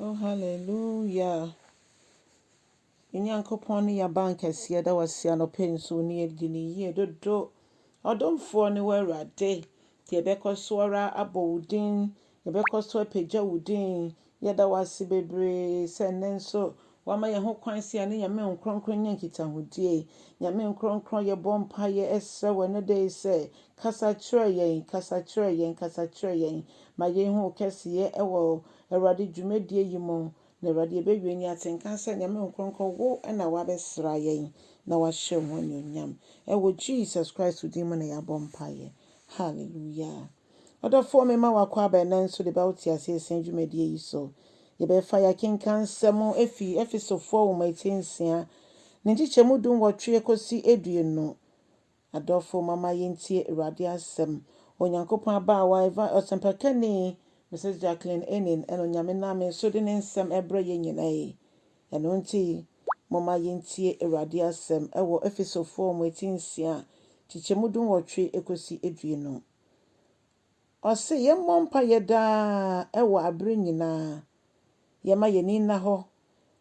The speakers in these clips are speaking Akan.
Oh hallelujah Yɛn Nyankopɔn ne yɛn bank kɛseɛ da wase anɔpa yi nso ne yɛdi ne yie dodo. Ɔdomfoɔ ne wo Awurade. Nti yɛbɛkɔ so ara abɔ wo din. Yɛbɛkɔ so apagya wo din. Yɛda wase bebree sɛ nnɛ nso Wama yɛn ho kwan sɛ yɛne Nyame nkorɔnkorɔ nyɛ nkitahodie. Nyame nkorɔnkorɔ yɛbɔ mpaeɛ ɛsrɛ wo ɛnɛ da yi sɛ, kasa kyerɛ yɛn, kasa kyerɛ yɛn, kasa kyerɛ yɛn. Ma yɛn hu wo kɛseyɛ ɛwɔ Awurade dwumadie yi mu. Na Awurade yɛbɛwie ni atenka sɛ Nyame nkorɔnkorɔ wo na wabɛsra yɛn na wahyɛ wo ho anuonyam. Ɛwɔ Jesus Christ din mu na yɛabɔ mpaeɛ. Hallelujah. Ɔdɔfoɔ me ma wakɔ aba ɛnɛ nso de bɛwo teaseɛ sɛn dwumadie yi so. Yɛbɛfa yɛakenkan nsɛm ɛfiri Efesofoɔ nwoma etire nsia ne nkyekyɛmu du nwɔtwe kɔsi aduonu. Adɔfo mama yɛntie Awurade asɛm. Onyankopɔn abaawa, eva, ɔsɛmpakani, Mrs. Jacqueline Enin, ɛna Onyame nam me so de ne nsɛm ɛbrɛ yɛn nyinaa yi. Ɛno nti, momma yentie Awurade asɛm wɔ Efesofoɔ mu ti nsia a nkyekyɛmu dunwɔtwe kɔsi aduonu. Ɔse yɛmmɔ mpaeɛ daa wɔ aberɛ nyinaa, yɛmma yɛn ani nna hɔ,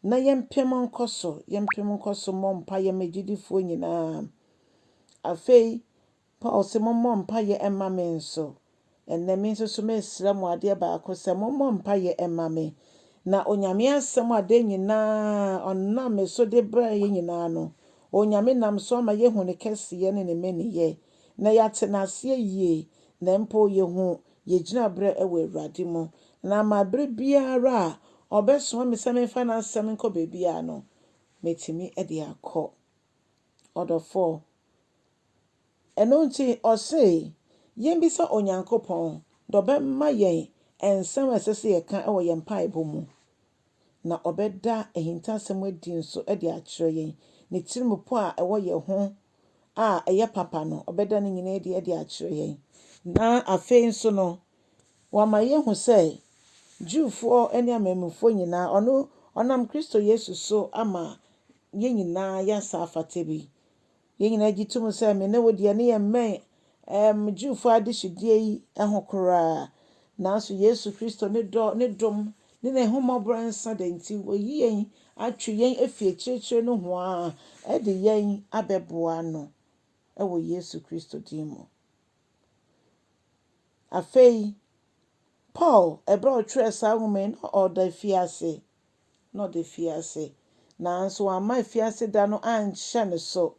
na yɛmpem nkɔ so, yɛmpem nkɔ so mmɔ mpaeɛ ma agyidifoɔ nyinaa. Afei, Paul se mommɔ mpaeɛ mma me nso. Ɛnnɛ me nso so meresrɛ mo adeɛ baako sɛ mommɔ mpaeɛ mma me. Na Onyame asɛm a da nyina ara ɔnam me so de brɛ yɛn nyina ara no, Onyame nam so ama yɛahu ne kɛseyɛ ne ne mmeneyɛ, na yɛate no aseɛ yie, na mpo yɛhu yɛn gyinaberɛ wɔ Awurade mu. Na ama berɛ biara a ɔbɛsoma me sɛ memfa n'asɛm nkɔ baabiara no, mɛtumi de akɔ. Ɔdɔfoɔ. Ɛno nti ɔse yɛmmisa Onyankopɔn na ɔbɛma yɛn nsɛm a ɛsɛ sɛ yɛka wɔ yɛn mpaebɔ mu, na ɔbɛda ahintasɛm adi nso de akyerɛ yɛn. Ne tirimupɔ a ɛwɔ yɛn ho a ɛyɛ papa no, ɔbɛda ne nyinaa adi de akyerɛ yɛn. Na afei nso no, Wɔama yɛahu sɛ Jewfoɔ ne amanmufoɔ nyinaa, ɔno, ɔnam Kristo Yesu so ama yɛn nyinaa yɛn nsa afata bi. Yɛn nyinaa gye tom sɛ me ne wo deɛ ne yɛmmɛn ɛɛm Jewfoɔ adehyedeɛ yi ho koraa. Nanso Yesu Kristo ne dɔ, ne dom, ne n'ahummɔborɔ rensa da nti, wayi yɛn atwe yɛn afi akyirikyiri nohoaa de yɛn abɛboa no wɔ Yesu Kristo din mu. Afei, Paul, bere a ɔtwerɛɛ saa nwoma yi, na ɔda afiase. Na ɔda afiase, nanso wamma afiase da no anhyɛ ne so.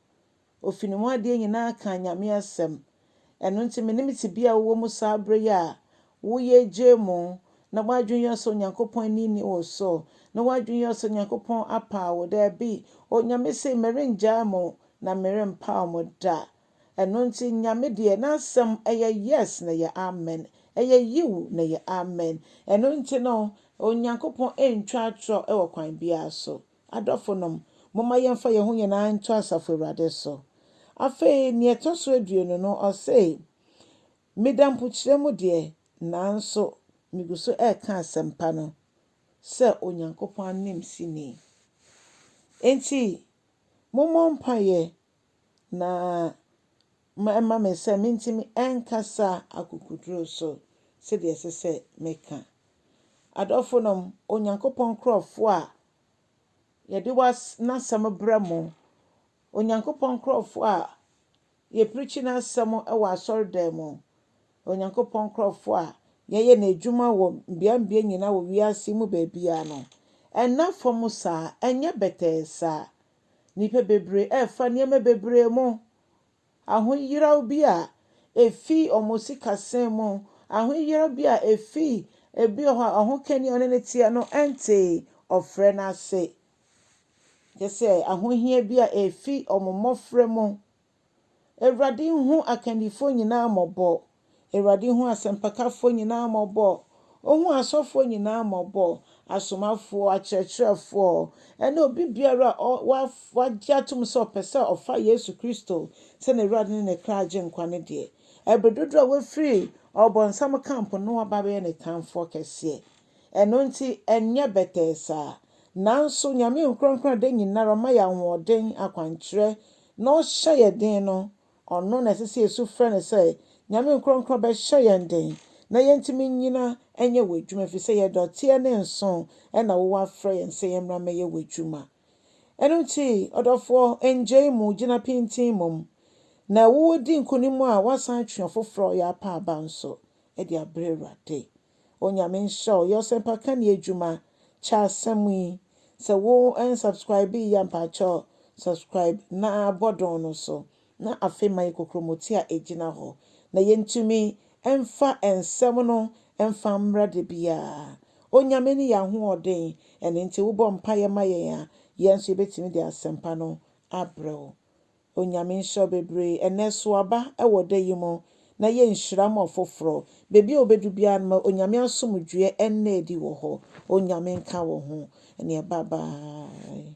Ɔfii ne mu adeɛ nyinaa kaa Nyame asɛm. Ɛno nti, menim tebea a wowɔ mu saa bere yi a woyɛ gyaamu, na w'adwene yɛ wo sɛ Onyankopɔn ani nni wo so, na w'adwene yɛ wo sɛ Onyankopɔn apaw wo. Dabi, Onyame se, Merengyaa mo, na merempaw mo da. Ɛno nti Nyame deɛ n'asɛm ɛyɛ yes na ɛyɛ amen, ɛyɛ yiw na ɛyɛ amen. Ɛno nti no Onyankopɔn ntwa atorɔ wɔ kwan biara so. Adɔfonom, momma yɛmfa yɛn ho nyinaa nto Asafo Awurade so. Afei nea ɛtɔ so aduonu no, ɔse, Meda mpokyerɛ mu deɛ, nanso megu so reka asɛmpa no sɛ Onyankopɔn ananmusini. Enti mommɔ mpaeɛ na ɛma me sɛ mentumi nkasa akokoduru so sɛdeɛ ɛsɛ sɛ meka. Adɔfonom, Onyankopɔn nkurɔfoɔ a yɛde was n'asɛm brɛ mo, Onyankopɔn nkurɔfoɔ a yɛpirikyi n'asɛm wɔ asɔredan mu, Onyankopɔn nkurɔfoɔ a yɛyɛ n'adwuma wɔ mbeambea nyinaa wɔ wiase mu baabiara no, ɛnna fam saa, ɛnyɛ bɛtɛɛ saa. Nnipa bebree refa nneɛma bebree mu. Ahoyeraw bi a efi wɔn sikasɛm mu, ahoyeraw bi a efi ebi wɔ hɔ a ɔhokani a ɔne no teɛ no ntee ɔfrɛ no ase, kyerɛ sɛ ahohia bi a efi wɔn mmofra mu Awurade nhu akannifoɔ nyinaa mmɔbɔ, Awurade nhu asɛmpakafoɔ nyinaa mmɔbɔ, Ɔnhu asɔfoɔ nyinaa mmɔbɔ, asomafoɔ, akyerɛkyerɛfoɔ, ɛne obi biara a wagye atom sɛ ɔpɛ sɛ ɔfa Yesu Kristo sɛ n'Awurade ne ne kra Agyenkwa no deɛ. Ɛberɛ dodoɔ a wafiri ɔbonsam camp no aba abɛyɛ ne tamfoɔ kɛseɛ. Ɛno nti ɛnyɛ bɛtɛɛ saa. Nanso Nyame nkorɔnkorɔn a da nyinara ɔma yɛn ahoɔden, akwankyerɛ, na ɔhyɛ yɛn den no, ɔno na ɛsɛ sɛ yesu frɛ no sɛ, Nyame nkorɔnkorɔn bɛhyɛ yɛn den na yɛntumi nnyina nyɛ w'adwuma efisɛ yɛn dɔteɛ ne nsõ na wowɔ afrɛ yɛn sɛ yɛmmra mmɛyɛ w'adwuma. Ɛno nti, ɔdɔfoɔ, nngyai mu, gyina pintinn mmom, na wodi nkonim a woasan atwe ɔfoforɔ a ɔyɛ apa aba nso de abrɛ Awurade. Onyame nhyira wo. Yɛ ɔsɛmpaka ni adwuma. Kyɛ asɛm yi. Sɛ wo unsubscribee yi a mpakyɛw subscribe na bɔ don no so na afei ma yɛ kokromoti a egyina hɔ na yɛntumi mfa nsɛm no mfa mmra da biara. Onyame ne yɛn ahoɔden ɛno nti wo bɔ mpaeɛ ma yɛn a yɛn nso yɛbɛtumi de asɛmpa no abrɛ wo. Onyame nhyira wo bebree. Ɛnɛ sow aba wɔ da yi mu na yɛ nhyira ma ɔfoforɔ. Baabi a wobɛdu biara no ma Onyame asomdwoeɛ nna adi wɔ hɔ. Onyame nka wo ho. Ɛnneɛ bye bye.